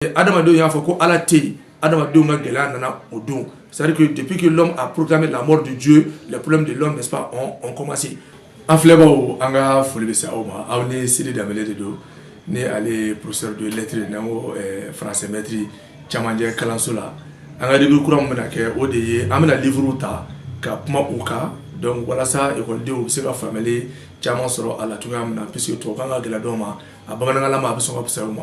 adamadenw y'a fɔ ko ala tɛ yen adamadenw ka gɛlɛya nana o don c'est à dire que depuis que l'homme a proclamé la mort de Dieu les problèmes de l'homme n'est-ce pas ont, ont commencé an filɛbaaw an ka foli bɛ se aw ma aw ni Sidi Danbele de don ni ale ye professeur de lettres n'an ko eh, français maître cɛmancɛ kalanso la an ka livre kura min bɛna kɛ o de ye an bɛna livrew ta ka kuma u kan donc walasa ekɔlidenw bɛ se ka faamuyali caman sɔrɔ a la cogoya min na puisque tubabukan ka gɛlɛn dɔw ma a bamanankanlama a bɛ sɔn ka fisaya u ma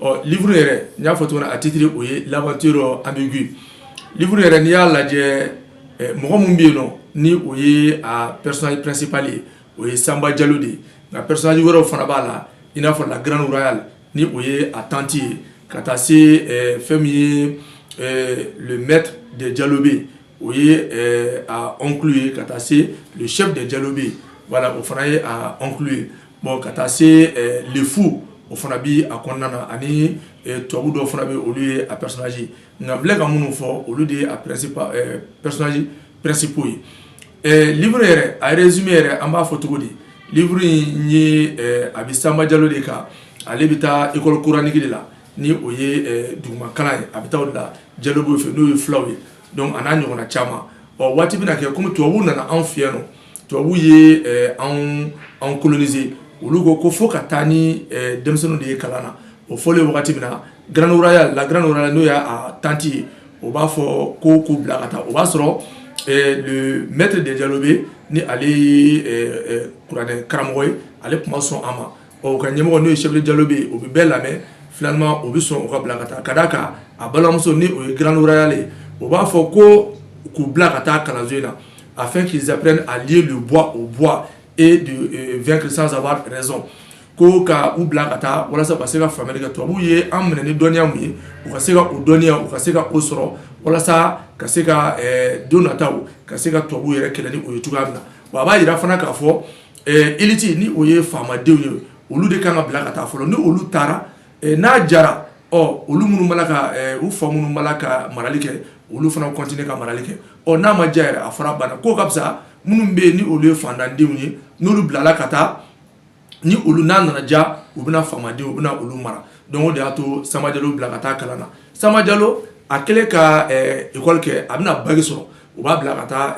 ɔ livre yɛrɛ n y'a fɔ cogo min na a titre o ye l'aventure ambiguë livre yɛrɛ n'i y'a lajɛ mɔgɔ min bɛ yen nɔ ni o ye a personnage principal ye o ye Sanba Jalo de ye nka personnage wɛrɛw fana b'a la i n'a fɔ la grande royale ni o ye a tante ye ka taa se fɛn min ye le maître des Diallobé o ye a oncle ye ka taa se le chef des Diallobé voilà o fana ye a oncle ye Bon ka taa se le fou o fana bɛ a kɔnɔna na ani tubabu dɔw fana bɛ olu ye a personnages ye nka n filɛ ka minnu fɔ olu de ye personnages principaux ye livre yɛrɛ a résumé yɛrɛ an b'a fɔ cogo di livre in ye a bɛ Sanba Jalo de kan ale bɛ taa école coranique de la ni o ye dugumakalan ye a bɛ taa o de la Diallobé fɛ n'o ye fulaw ye donc a n'a ɲɔgɔnna caman ɔ waati bɛna kɛ kɔmi tubabuw nana anw fɛ yan tubabuw ye eh, anw anw coloniser olu ko ko fo ka taa ni eh, denmisɛnninw de ye kalan na o fɔlen wagati min na grande royale la grande royale n'o y'a tante ye o b'a fɔ ko k'u bila ka taa o b'a sɔrɔ eh, le maître des Diallobé ni ale ye kuranɛ karamɔgɔ ye ale tun ma sɔn a ma ɔ u ka ɲɛmɔgɔ n'o ye chef des Diallobé o bɛ bɛɛ lamɛn finalement o bɛ sɔn u ka bila ka taa ka d'a kan a balimamuso ni o ye grande royale ye o b'a fɔ ko k'u bila ka taa kalanso in na Afin qu'ils apprennent à lier le bois au bois et de vaincre sans avoir raison ko ka u bila ka taa walasa ka se ka faamuyali kɛ tubabuw ye an minɛ ni dɔnniya min ye u ka se ka o dɔnniya u ka se ka o sɔrɔ walasa ka se ka don nataw ka se ka tubabuw yɛrɛ kɛlɛ ni o ye cogoya min na wa a b'a yira fana k'a fɔ élite ni o ye faamadenw ye olu de kan ka bila ka taa fɔlɔ ni olu taara n'a jara ɔ olu minnu b'a la ka u fa minnu b'a la ka marali kɛ olu fana continuer ka marali kɛ ɔ n'a ma diya yɛrɛ a fɔra banna ko ka fisa minnu bɛ yen ni olu ye fantandenw ye n'olu bilala ka taa ni olu n'a nana ja u bɛna faamadenw u bɛna olu mara donc o de y'a to Sanba Jalo bila ka taa kalan na Sanba Jalo a kɛlen ka école kɛ a bɛna bac sɔrɔ u b'a bila ka taa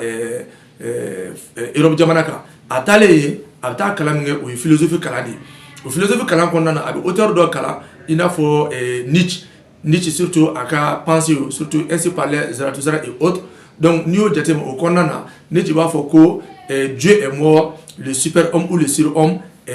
yɔrɔ jamana kan a taalen yen a bɛ taa kalan min kɛ o ye filosofi kalan de ye o filosofi kalan kɔnɔna na a bɛ otari dɔ kalan i n'a fɔ ni ci ni ci sutu a ka panse sutu ese paale zsansara o dɔnkuc n'i y'o jate o kɔnɔna na ne ci b'a fɔ ko jo mɔgɔ siri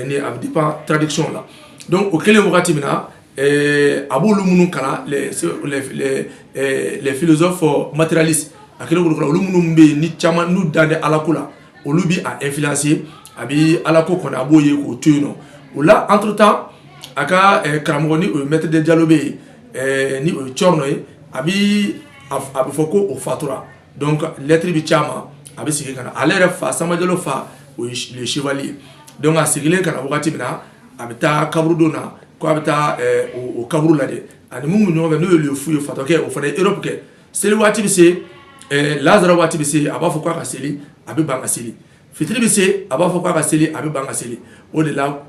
ni a bɛ pan tadic la don o kɛlen wagati min na a b'olu minnu kalan les philosophes matérialistes a kɛlen k'olu kalan olu minnu bɛ yen ni caman n'u dan tɛ alako la olu bɛ a influencer a bɛ alako kɔni a b'o ye k'o to yen nɔ o la entre-temps a ka karamɔgɔ ni o ye maître des Diallobé ye ni o ye Thierno ye a bɛ a bɛ fɔ ko o fatura donc lettre bɛ ci a ma a bɛ segin ka na ale yɛrɛ fa Samba Jalo fa o ye le chevalier ye donc a seginnen ka na wagati min na a bɛ taa kaburudon na ko a bɛ taa o kaburu lajɛ ani mun bɛ ɲɔgɔn fɛ n'o ye le fou ye fatɔkɛ o fana ye Europe kɛ seli waati bɛ se lansara waati bɛ se a b'a fɔ k'a ka seli a bɛ ban ka seli Fitiri bɛ se a b'a fɔ k'a ka seli a bɛ ban ka seli o de la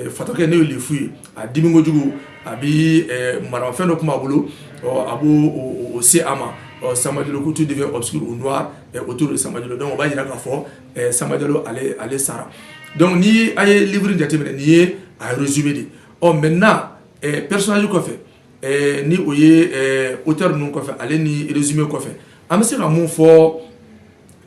fatɔkɛ n'o ye le fou ye a dimi kojugu a bɛ maramafɛn dɔ tun b'a bolo a b'o se a ma Samba Jalo ko tout devient obscur ou noir autour de Samba Jalo donc o b'a jira k'a fɔ Samba Jalo ale sara donc ni a ye livre jateminɛ nin ye a résumé de ɔ maintenant personnage kɔfɛ ni o ye auteur ninnu kɔfɛ ale ni résumé kɔfɛ an bɛ se ka mun fɔ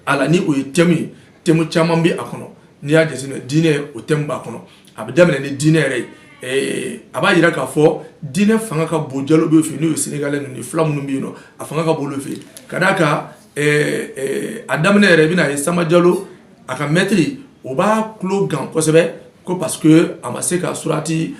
A la ni o ye thème ye thème caman bɛ a kɔnɔ n'i y'a jateminɛ diinɛ o thème b'a kɔnɔ a bɛ daminɛ ni diinɛ yɛrɛ ye a b'a jira k'a fɔ diinɛ fanga ka bon Diallobé fɛ ni o ye sénégalais ninnu fila minnu bɛ yen nɔ a fanga ka bon olu fɛ ka d'a kan a daminɛ yɛrɛ i bɛna a ye Samba Jalo a ka maître o b'a tulo gan kosɛbɛ ko parce que a ma se ka surati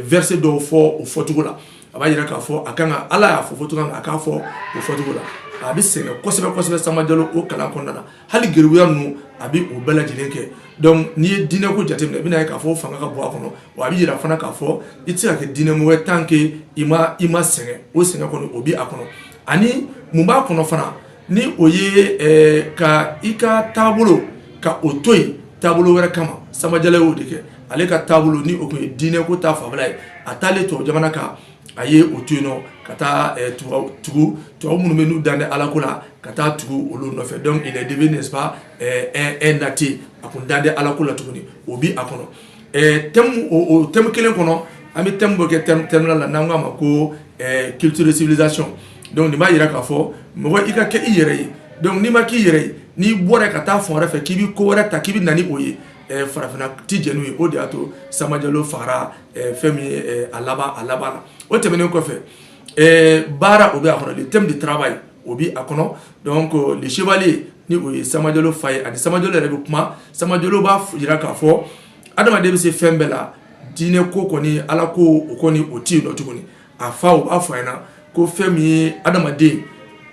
verset dɔw fɔ o fɔcogo la a b'a jira k'a fɔ a kan ka ala y'a fɔ fɔcogo min a k'a fɔ o fɔcogo la a bɛ sɛgɛn kosɛbɛ kosɛbɛ Samba Jalo o kalan kɔnɔna na hali geribuya ninnu a bɛ o bɛɛ lajɛlen kɛ donc n'i ye diinɛko jateminɛ i bɛna ye k'a fɔ fanga ka bon a kɔnɔ wa a bɛ jira fana k'a fɔ i tɛ se ka kɛ diinɛmɔgɔ ye tant que i ma i ma sɛgɛn o sɛgɛn kɔni o bɛ a kɔnɔ ani mun b'a kɔnɔ fana ni o ye ka i ka taabolo ka o to yen taabolo wɛrɛ kama Samba Jalo y'o de kɛ ale ka taabolo ni o tun ye diinɛ ko ta fanfɛla ye a taalen tubabu jamana kan a ye o to yen nɔ ka taa tugu tubabu minnu bɛ n'u dan tɛ ala ko la ka taa tugu olu nɔfɛ donc il est devenu n'est-ce pas un athée a kun dan tɛ ala ko la tuguni o bɛ a kɔnɔ o thème kelen kɔnɔ an bɛ thème bɔ kɛ thème la n'an k'a ma ko culture de civilisation donc nin b'a jira k'a fɔ mɔgɔ i ka kɛ i yɛrɛ ye donc n'i ma k'i yɛrɛ ye n'i bɔra ka taa fan wɛrɛ fɛ k'i bɛ ko wɛrɛ ta k'i bɛ na ni o ye farafinna tɛ jɛn n'o ye o de y'a to Samba Jalo fagara fɛn min ye a laban la o tɛmɛnen kɔfɛ baara o bɛ a kɔnɔ thème de travail là b'a ye o bɛ a kɔnɔ donc le chevalier ni o ye Samba Jalo fa ye ani Samba Jalo yɛrɛ bɛ kuma Samba Jalo b'a jira k'a fɔ adamaden bɛ se fɛn bɛɛ la diinɛ ko kɔni ala ko o kɔni o tɛ yen nɔ tuguni a fa o b'a fɔ a ɲɛna ko fɛn min ye adamaden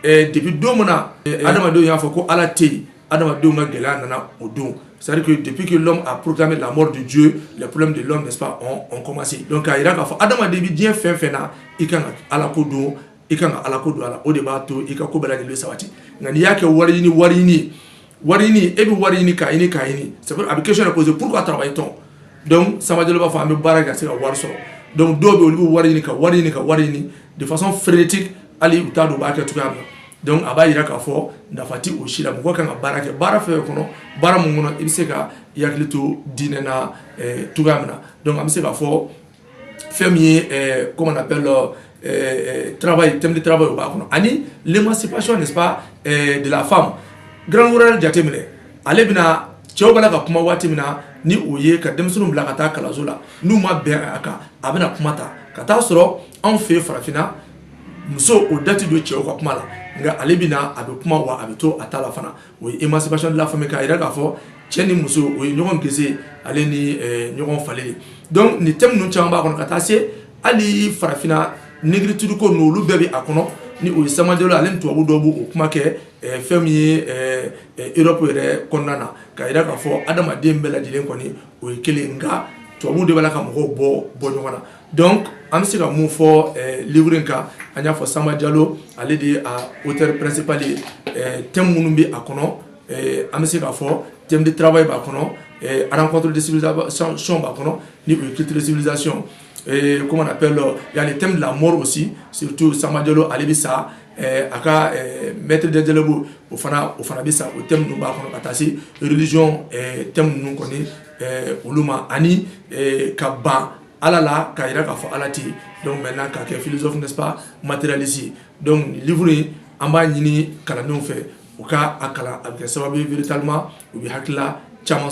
ɛɛ depuis don min na adamadenw y'a fɔ ko ala tɛ yen adamadenw ka gɛlɛya nana o don c'est à dire que depuis que l'homme a proclamé la mort de Dieu les problèmes de l'homme n'est-ce pas ont, ont commencé donc a jira k'a fɔ adamaden bɛ diɲɛ fɛn fɛn na i kan ka ala ko don i ka ala ko don a la o de b'a to i ka ko bɛɛ lajɛlen sabati nka n'i y'a kɛ wari ɲini wari ɲini wari ɲini e bɛ wari ɲini k'a ɲini k'a ɲini sabu a bɛ question poser pourquoi travaille-t-on donc Samba Jalo b'a fɔ an bɛ baara kɛ ka se ka wari sɔrɔ donc dɔw bɛ olu bɛ wari ɲini ka wari ɲini ka wari ɲini de façon frénétique hali u t'a dɔn u b'a kɛ cogoya min na donc a b'a jira k'a fɔ nafa tɛ o si la mɔgɔ kan ka baara kɛ baara fɛn kɔnɔ baara min kɔnɔ i bɛ se ka i hakili to diinɛ na cogoya min na donc an bɛ se k'a fɔ fɛn min ye eh, comment on appelle euh, eh, eh, travail thème de travail o b'a kɔnɔ ani l'émancipation n'est-ce pas eh, de la femme Grande Royale jateminɛ ale bɛna cɛw b'a la ka kuma waati min na ni o ye ka denmisɛnninw bila ka taa kalanso la n'u ma bɛn a kan a bɛna kuma ta ka taa sɔrɔ anw fɛ farafinna muso o da tɛ don cɛw ka kuma la nka ale bɛna a bɛ kuma wa a bɛ to a ta la fana o ye émancipation de la femme k'a jira k'a fɔ cɛ ni muso o ye ɲɔgɔn gese ale ni eh, ɲɔgɔn falen ye donc nin thème ninnu caman b'a kɔnɔ ka taa se hali farafinna négritude ko ninnu olu bɛɛ bɛ a kɔnɔ ni o ye Samba Jalo ale ni tubabu dɔw b'o kuma kɛ eh, fɛn min ye eh, europe yɛrɛ kɔnɔna na k'a jira k'a fɔ adamaden bɛɛ lajɛlen kɔni o ye kelen nka tubabu de b'a la ka mɔgɔw bɔ bɔ ɲɔgɔn na Donc an bɛ se ka mun fɔ eh, livre in kan an y'a fɔ Samba Jalo ale de ye a acteur principal ye eh, thème minnu bɛ a kɔnɔ eh, an bɛ se k'a fɔ thème de travail b'a kɔnɔ eh, rencontre de civilisation b'a kɔnɔ ni o ye culture de civilisation eh, comment on appelle euh, il y a le thème de la mort aussi surtout Samba Jalo ale bɛ sa eh, a ka eh, maître des Diallobé o fana o fana bɛ sa o thème ninnu b'a kɔnɔ ka taa se religion eh, thème ninnu kɔni eh, olu ma ani eh, ka ban ala la k'a jira k'a fɔ ala tɛ donc maintenant k'a kɛ philosophe n'est-ce pas matérialiste donc livre in an b'a ɲini kalandenw fɛ u ka a kalan a bɛ kɛ sababu ye véritablement u bɛ hakilila caman sɔrɔ